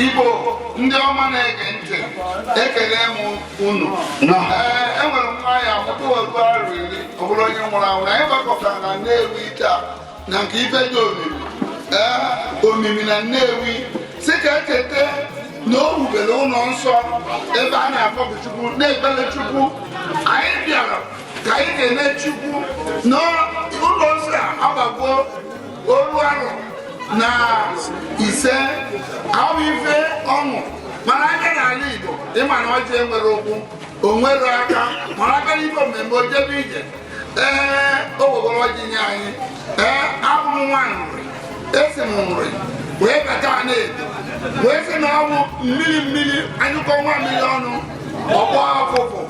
igbo ndị ọma na-ege ntị ekene m unu ee enwere m nwa ya mụta otu arụ iri ọ bụrụ onye nwụrụ anwụ na anyị gbakọtara na nnewi taa na nke ife dị omimi ee omimi na nnewi si ka echeta na o wubere ụlọ nsọ ebe a na-akpọku chukwu na-ekpere chukwu anyị bịara ka anyị kenee chukwu n'ụlọ nsọ a agbago oru arọ na ise ahụ ife ọṅụ mana anya n'ala Igbo ịma na ọjị enwere ụkwụ o nwere aka mana aka n'ife mmemme o jebe ije ee o wegoro ọjị nye anyị ee abụ m nwa nri esi m nri wee bata Anaedo wee sị na ọ bụ mmiri mmiri anyụkọọ nwamịrị ọnụ ọ gbọọ ụfụfụ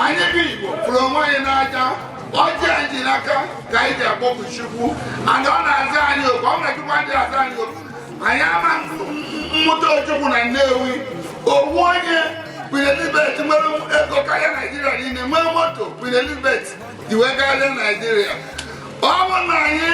anyị bụ Igbo fụrụ onwe anyị n'anya ọjị anyị ji n'aka ka anyị ji akpọku Chukwu and ọ na-aza anyị oku ọ na Chukwu adị aza anyị oku anyị ama amụta Ojukwu na Nnewi ọ wụ onye Queen Elizabeth nwere ego karịa Naijiria niile nwee moto Queen Elizabeth ji wee gagharịa Naijiria ọ bụ na anyị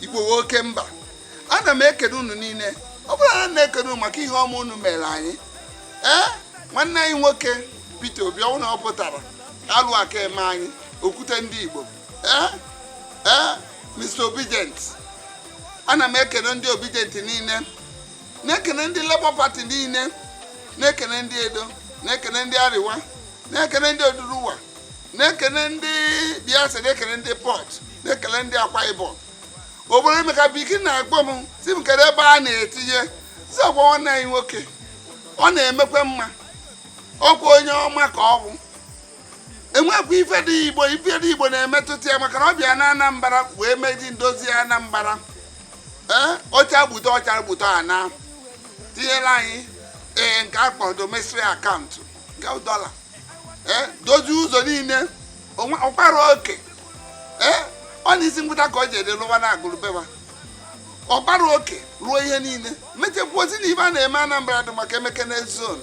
igbo oke mba ana m ekene unu niile ọ bụrụ na na-ekene unu maka ihe ọma unu mere anyị ee nwanne anyị nwoke Peter Obi ọ wụ na ọ pụtara alụ aka eme anyị okwute ndị igbo ee ee Mr Obidient ana m ekene ndị Obidient niile na-ekene ndị Labour Party niile na-ekene ndị Edo na-ekene ndị Arewa na-ekene ndị Oduduwa na-ekene ndị biafra na-ekene ndị Port na-ekele ndị akwa ibom obodo emeka biki na-akpọ m sị m kedụ ebe a na-etinye si ọkwa nwanne anyị nwoke ọ na-emekwa mma ọkwa onye ọma ka ọ bụ enwekwa ife ndị igbo ife ndị igbo na-emetụta ya maka na ọ bịa na anambra wee mezi ndozi anambra ee ọcha gbute ọcha gbute ana tinyere anyị ee nke akpọrọ domiciliary account nke dọla eh, dozie ụzọ niile ọkpara oke eh, ọ na isi Agụata ka o ji ede lụwa na Agụlụ be ya ọkpara oke rụọ ihe niile mechekwa ozi na ibe a na-eme Anambra dị mma ka e meke na zone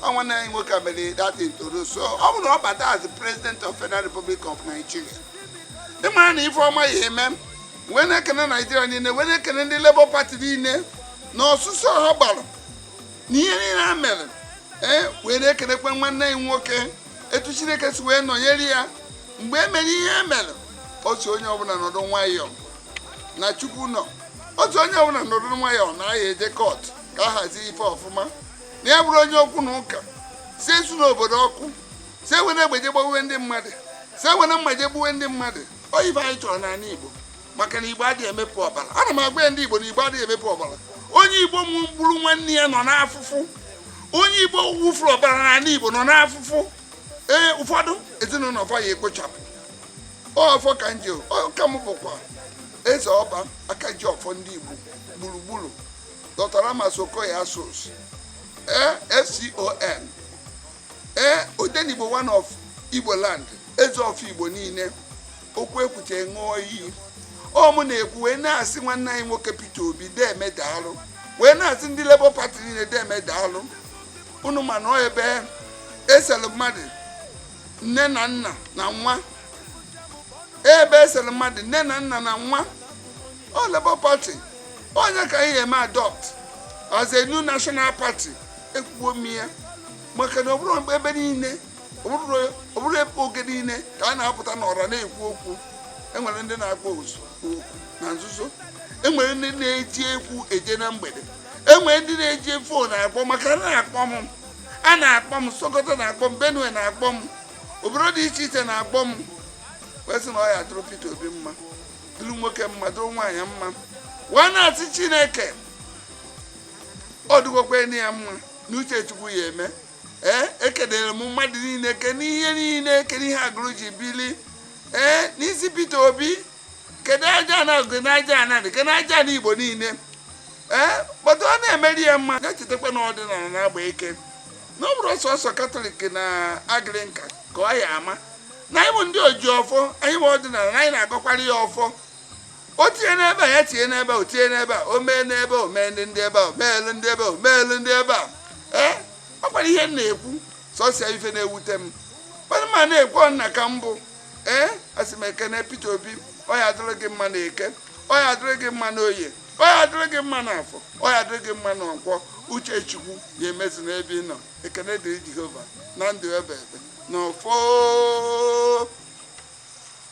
ọ nwanne anyị nwoke mere dati ntoro so ọ bụrụ na ọ bata as president of Federal Republic of Nigeria ịmara na ife ọma ya eme wee na-ekene Naijiria niile wee na-ekene ndị Labour Party niile na ọsụsọ ha gbara na ihe niile ha mere ee wee na-ekenekwa nwanne anyị nwoke etu chineke si wee nọnyere ya mgbe e mere ihe e mere ọ sị onye ọbụla nọdụ nwayọọ na chukwu nọ ọ sị onye ọbụla nọdụ nwayọọ na a ya-eje court ka a hazie ife ọfụma na ya abụrọ onye okwu na ụka sị esuna obodo ọkụ sị ewene egbe je gbawe ndị mmadụ sị ewene mma je gbuwe ndị mmadụ ọ bụghị ife anyị chọrọ n'ala igbo maka na igbo adịghị emepụ ọbara ana m agwa ndị igbo na igbo adịghị emepụ ọbara onye igbo gburu nwanne ya nọ n'afụfụ onye igbo wụfuru ọbara n'ala igbo nọ n'afụfụ ee ụfọdụ ezinụlọ fa ya ekpochapụ ọfọ ka m ji ọ ka m bụkwa eze ọba aka ji ọfọ ndị igbo gburugburu Dr Ramas Okoye Asuzu ee fcon ee odenigbo one of igbo land eze ọfọ igbo niile okwu ekwuchaa ṅụọ iyi ọ mụ na-ekwu wee na-asị nwanne anyị nwoke Peter Obi deme daalụ wee na-asị ndị Labour Party niile deme daalụ unu ma na ọ ebe eselu mmadụ nne na nna na nwa ebe eselu mmadụ nne na nna na nwa ọ Labour Party ọ nya ka anyị eme adopt as a new national party ekwuo m ya maka na ọ bụrọ ebe niile ọ bụrọ oge niile ka a na-apụta n'ọra na-ekwu okwu enwere ndị na-akpọ oku na nzuzo enwere ndị na-eji ụkwụ eje na mgbede enwere ndị na-eji fon akpọ maka a na-akpọ m a na-akpọ m sokoto na-akpọ m benue na-akpọ m obodo dị iche iche na-akpọ m wee sị na ọ ya dụrụ Peter Obi mma dụrụ nwoke mma dụrụ nwaanyị mma wee na-asị Chineke ọ dịgokwa na ya mma na uche chukwu ya eme ee ekelere m mmadụ niile kene ihe niile kene ihe Agụlụ ji bili ee n'isi Peter Obi kene ajana agụ na ajana Nri kene ajana Igbo niile ee kpọtụ ọ na-emere ya mma ga-echetakwa na ọdịnala na-agba ike na ọ bụrọ sọsọ katọlik na Anglican ka ọ ya ama na anyị bụ ndị oji ọfọ anyị bụ ọdịnala anyị na-agọkwara ya ọfọ o tinye n'ebe a ya tinye n'ebe a o tinye n'ebe a o mee n'ebe a o mee ndị ndị ebe a o meelu ndị ebe a o meelu ndị ebe a ee ọ kwara ihe m na-ekwu sọsịa ife na-ewute m mana m na-ekwu ọ nna ka m bụ ee asị m ekene Peter Obi ọ ya adịrị gị mma na eke ọ ya adịrị gị mma na oye ọ ya adịrị gị mma na afọ ọ ya adịrị gị mma na nkwọ uche chukwu ya emezu n'ebe ị nọ ekene dịrị Jehova na ndụ ebebe na ọfọ